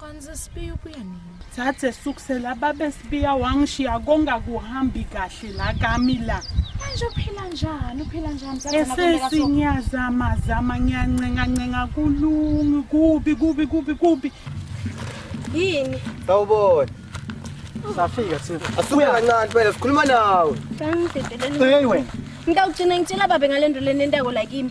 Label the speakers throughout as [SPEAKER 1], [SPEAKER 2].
[SPEAKER 1] Kanti
[SPEAKER 2] sesibiya ubuya nini? Thathe sukusela
[SPEAKER 1] babe sibiya wangishiya konga kuhambi kahle la kami la. Manje uphila
[SPEAKER 2] njani? Uphila njani? Zaze nakwenzeka so- Esesi ngiyazama
[SPEAKER 1] zama ngiyancenga ncenga kulungi kubi kubi kubi kubi.
[SPEAKER 2] Yini? Sawubona.
[SPEAKER 3] Safika
[SPEAKER 4] thina. Asuke kancane phela
[SPEAKER 3] sikhuluma nawe. Kangidedeleni. Hey
[SPEAKER 1] wena. Ngitawugcina ngitshela
[SPEAKER 2] babe ngalento lenentako la kimi.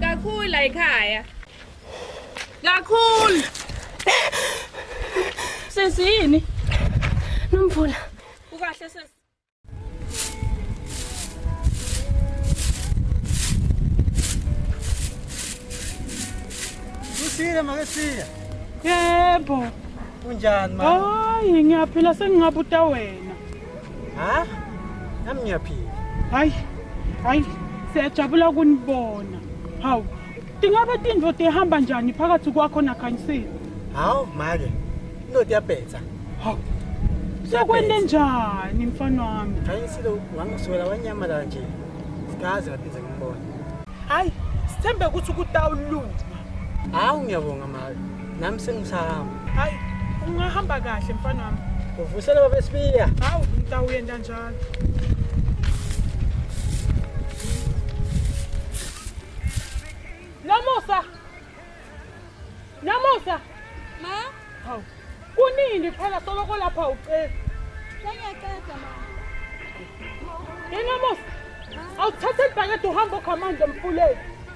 [SPEAKER 2] Kakhulu la ekhaya. Kakhulu. Sisi yini? Nomvula. Ukahle sisi.
[SPEAKER 4] Kusile make siya. Yebo.
[SPEAKER 1] Kunjani
[SPEAKER 4] mama? Hayi ngiyaphila
[SPEAKER 1] sengingabuta wena. ha
[SPEAKER 4] nami ngiyaphila hayi
[SPEAKER 1] hayi siyajabula kunibona hawu tingabe tintfo tihamba njani phakathi kwakho nakhanyisile hawu make
[SPEAKER 4] into tiyabhetha hawu
[SPEAKER 1] sekwente njani mfana wami khanyisile wangisukela
[SPEAKER 4] wanyamalala nje sikaze ngaphinde ngimbone hayi
[SPEAKER 1] sithembe ukuthi kutawulunga hawu
[SPEAKER 4] ngiyabonga make Nami sengisahamba. Hayi,
[SPEAKER 1] ungahamba kahle mfana wami. Uvusela baba Sibiya.
[SPEAKER 4] Hawu, ngitawuyenda
[SPEAKER 1] njalo. Nomusa. Nomusa. Ma?
[SPEAKER 2] Hawu.
[SPEAKER 1] Kunini phela soloko lapha ucela. Sengiyaqeda
[SPEAKER 2] ma. Yena
[SPEAKER 1] Musa. Awuthathe ibhakede uhamba okhamanda emfuleni.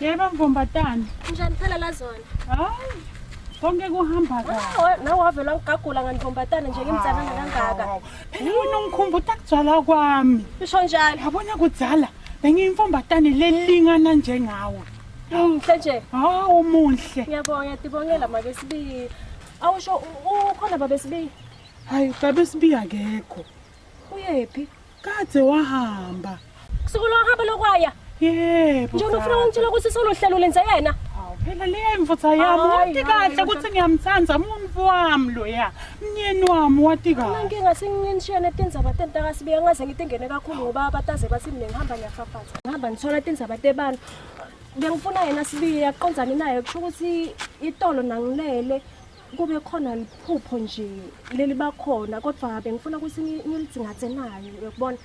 [SPEAKER 1] Yebo mvombatana. Njani phela la
[SPEAKER 2] zona? Hayi.
[SPEAKER 1] Konke kuhamba kahle. Nawe wavela ngigagula
[SPEAKER 2] nganivombatana nje ngimzalana kangaka. Phela wena ungikhumbuta
[SPEAKER 1] kuzala kwami. Usho njalo. Yabona
[SPEAKER 2] kudzala
[SPEAKER 1] bengiyimfombatane lelingana njengawe. Muhle nje.
[SPEAKER 2] Hawu muhle. Ngiyabonga dibongela
[SPEAKER 1] make
[SPEAKER 2] sibi. Awusho
[SPEAKER 1] ukhona
[SPEAKER 2] babe sibi.
[SPEAKER 1] Hayi babe sibi akekho. Uyephi?
[SPEAKER 5] Kade
[SPEAKER 1] wahamba. Kusuku lohamba
[SPEAKER 5] lokwaya. Yebo. Njengoba
[SPEAKER 1] ufuna ungitshela ukuthi
[SPEAKER 5] solohlelo lenze yena. Phela le
[SPEAKER 1] mfutha yami wati kahle ukuthi ngiyamthanda umuntu wami loya. Mnyeni wami wati kahle. Mina nginga singinishene
[SPEAKER 5] tindzaba tentaka sibiya ngaze ngitengene kakhulu ngoba abataze bathi mina ngihamba ngiyafafaza. Ngihamba ngithola tindzaba tebantu. Bengifuna yena sibiya qondzani naye kusho ukuthi itolo nangilele. kube khona liphupho nje leli bakhona kodwa bengifuna ukuthi ngilidzingathe nayo uyakubona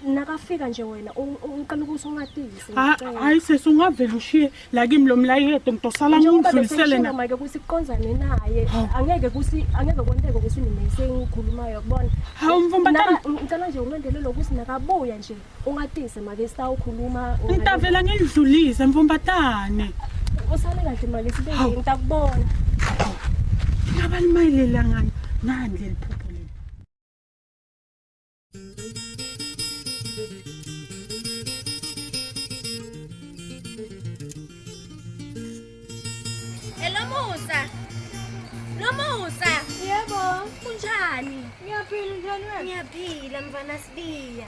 [SPEAKER 5] nakafika nje wena uqala ukuthi ungatisi hayi sesi
[SPEAKER 1] ungavele ushiye la kimi lo mlayedo ngidosala ngidlulisele na manje ukuthi
[SPEAKER 5] kuqonzane naye angeke ukuthi angeke kwenteke ukuthi mina sengikhulumayo yakubona hawu mfumbatana
[SPEAKER 1] ngicela nje ulandelele
[SPEAKER 5] ukuthi nakabuya nje Ungatise make sitawukhuluma. Ngitavela
[SPEAKER 1] ngidlulise mfumbatane. Usale
[SPEAKER 5] kahle mali sibe ngitakubona.
[SPEAKER 1] Ngabalimayilela ngani? Nani leli phupho leli. Hello
[SPEAKER 2] Musa. Lo Musa. Yebo.
[SPEAKER 5] Kunjani?
[SPEAKER 2] Ngiyaphila njani
[SPEAKER 5] wena? Ngiyaphila mfana
[SPEAKER 2] Sibiya.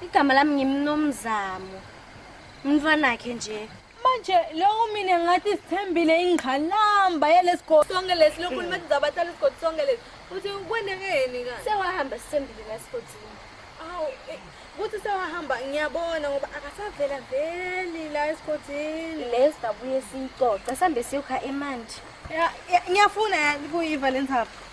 [SPEAKER 2] Igama lami ngimnomzamo. Umntwanakhe nje. Manje lokho
[SPEAKER 5] mina ngathi sithembile ingqalamba yalesigodi sonke lesi lokhu hmm. nimathi zabathala isigodi sonke lesi. Uthi kwendekeni ka? Sewahamba sithembile la
[SPEAKER 2] sigodini.
[SPEAKER 5] Awu eh, kuthi sewahamba ngiyabona ngoba akasavela veli la esigodini. Lesi dabuye
[SPEAKER 2] sicoca sambe siyokha emanti. Ngiyafuna
[SPEAKER 5] yani kuyiva lensapho.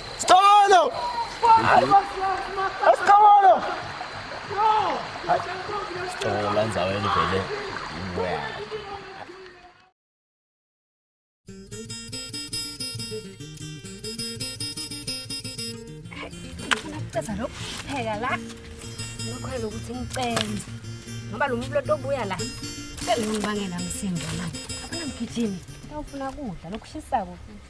[SPEAKER 6] Sicabano!
[SPEAKER 7] Sicabano! Sicabano lenza wena
[SPEAKER 2] vele. Ceza lokhu pheka la. Ngikholwa ukuthi ngicenze. Ngoba lo muntu lotobuya la. Sele ngibangela msindo manje. Abana mgijimi. Ngifuna kudla lokushisako futhi.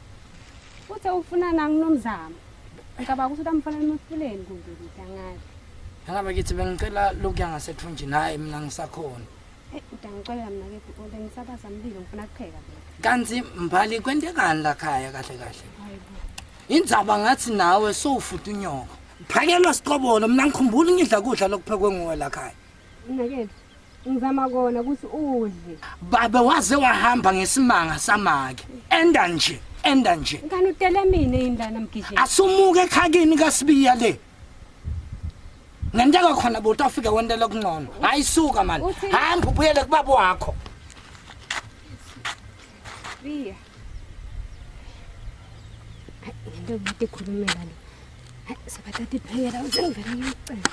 [SPEAKER 2] Uthe ufuna nami nomzamo. Ngicabanga ukuthi utamfanele emfuleni kumbe ukuthi angazi. Angabe kithi
[SPEAKER 3] bengicela lokuya ngasethunjini hayi mina ngisakhona. Eh udangixolela
[SPEAKER 2] mina ke kodwa ngisabaza mlilo ngifuna kupheka mina. Kanti mbali
[SPEAKER 3] kwentekani la khaya kahle kahle? Hayibo.
[SPEAKER 2] Indzaba
[SPEAKER 3] ngathi nawe sowufuta unyoko. Phakelwa siqobolo mina ngikhumbula ngidla kudla lokuphekwe nguwe la khaya. Unakele.
[SPEAKER 2] Ngizama kona ukuthi udle. Babe waze
[SPEAKER 3] wahamba ngesimanga samake. Enda nje, enda nje. Ngani
[SPEAKER 2] utele mina indlana mgijeni. Asumuke ekhakini
[SPEAKER 3] kaSibiya le. Ngenteka khona buti afike wendela kuncono. Hayi suka manje. Uthi- Hamba ubuyele kubaba wakho. Biya.
[SPEAKER 2] Into yokuthi ikhulumela le. Hayi, Sabathatha iphekela uzengivela ngiyocela.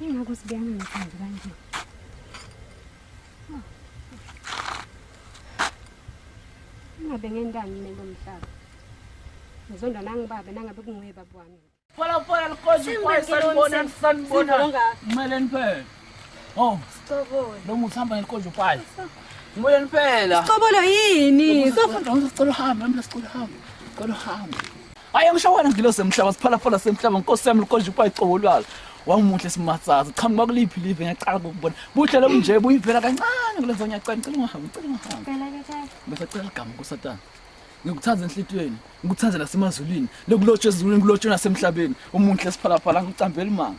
[SPEAKER 2] Ingakho sibeyangingathandi kanje. Ingabe ngentani mina kulomhlaba. Ngizondwa nangibaba nangabe kunguye baba wami. Pola pola likozi
[SPEAKER 7] kwaye sanibona sanibona. Ngimele niphele. Oh. Sicobole. Lo
[SPEAKER 5] muthi hamba ngekonje
[SPEAKER 7] kwaye. Ngimele niphela. Sicobolo yini?
[SPEAKER 2] Sofunda ngicela uhambe,
[SPEAKER 7] ngicela uhambe. Ngicela uhambe. Hayi angisho wena ngilo semhlaba siphalaphala semhlaba nkosi yami likonje kwa icobo lwazo. Wamuhle simatsaza qhamuka kuliphi live ngiyacala ukubona. Buhle lo nje buyivela kancane kulenzo ngiyacela ngicela ungahambi ngicela ungahambi. Phela ke
[SPEAKER 5] tata. Bese cela igama nkosatana.
[SPEAKER 7] Ngikuthanda enhlitweni, ngikuthanda nasemazulwini, lokulotshwa ezulwini kulotshwa nasemhlabeni. Umunhle siphalaphala ngicambela imanga.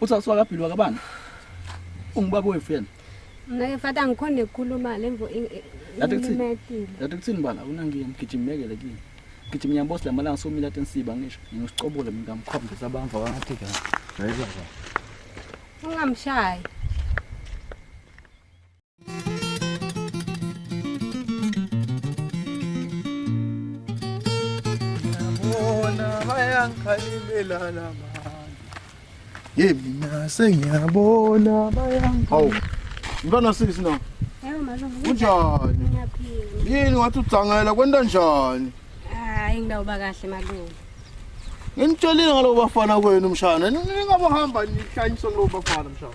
[SPEAKER 7] Uthi asuka kabhili wakabani? Ungubaba wethu yena. Mina ke fata
[SPEAKER 2] ngikhona ukukhuluma lemvo Yathi kuthini?
[SPEAKER 7] imetile. Yathi kuthini
[SPEAKER 2] bala awunangiyo
[SPEAKER 7] mgijimekele kini. Gijima yambosi lamalanga somila tensiba ngisho. Ngiyosicobula mina ngamkhombisa abamva wangathi kahle. Hayi baba. Ungamshayi.
[SPEAKER 6] bayangikhalelelana ye mina sengiyabona hawu mntwana sisi na
[SPEAKER 2] kunjani
[SPEAKER 6] yini
[SPEAKER 2] wathi udzangela
[SPEAKER 6] kwenta njani hayi ngidawuba
[SPEAKER 2] kahle malume
[SPEAKER 6] nginitshelile ngalobo bafana kwenu mshana ningabohamba nihlanyiswe kulobo bafana mshana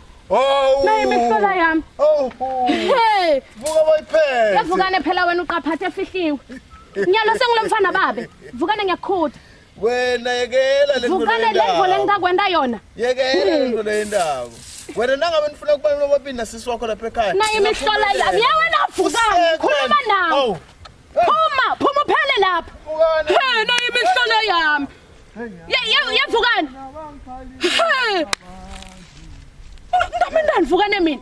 [SPEAKER 6] Oh! Nayi
[SPEAKER 5] imihlola yami. Oh! Hey! Vuka
[SPEAKER 6] boyiphethe. Yavukane phela wena
[SPEAKER 5] uqaphathe efihliwe. Nyalo sengulomfana babe. Vukane ngiyakhuda. Wena
[SPEAKER 6] yekela le Vukane le ngole ngikakwenda
[SPEAKER 5] yona. Yekela le ngole
[SPEAKER 6] yendawo. Wena nangabe nifuna ukubalula bobina sisi wakho lapha ekhaya. Nayi imihlola yami.
[SPEAKER 5] Yewena vukane. Khuluma nawe. Oh! Phuma, phuma uphele lapha. Hey, nayi imihlolo yami. Yevukani. Hey. Nami ndandivukane mina.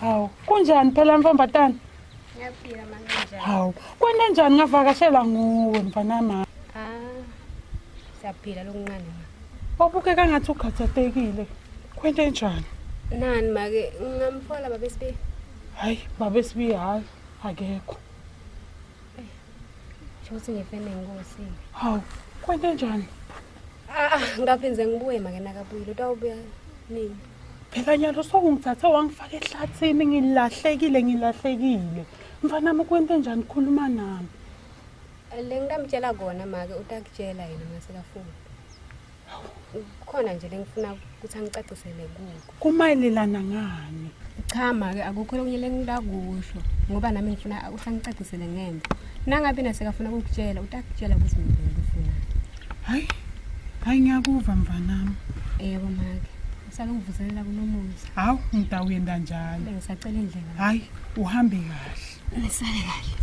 [SPEAKER 1] Hawu, kunjani phela mfambatana? Ngiyaphila
[SPEAKER 2] mama njani? Hawu, kwende
[SPEAKER 1] njani ngavakashela nguwe mfana mama? Ah.
[SPEAKER 2] Siyaphila lokuncane ma. Wabukeka ngathi
[SPEAKER 1] ukhathatekile. Kwende njani? Nani make
[SPEAKER 2] ngamfola baba Sibi. Hayi,
[SPEAKER 1] baba Sibi hayi akekho.
[SPEAKER 2] Eh. Shothi ngifene nkosi. Hawu,
[SPEAKER 1] kwende njani? Ah, ah
[SPEAKER 2] ngaphinze ngibuye make nakabuye. Lotawubuya nini? Phela nyalo
[SPEAKER 1] sokungithathe wangifaka ehlathini ngilahlekile ngilahlekile. Mfanami kwente njani khuluma nami.
[SPEAKER 2] Lengitamtshela kona make utakutshela yena masekafuna. Khona nje lengifuna ukuthi angicacisele kuko. Kumayelelana
[SPEAKER 1] ngani? Cha make
[SPEAKER 2] akukho lokunye lengitakusho ngoba nami ngifuna ukuthi angicacisele ngemva. Nangabe nasekafuna ukukutshela utakutshela ukuthi mina ngifuna. Hayi.
[SPEAKER 1] Hayi ngiyakuva mvanami. Yebo make.
[SPEAKER 2] Usake ngivuselela kunomuzi. Hawu ngida uyenda
[SPEAKER 1] njalo. Bengisacela indlela. Hayi
[SPEAKER 2] uhambe
[SPEAKER 1] kahle. Nisale kahle.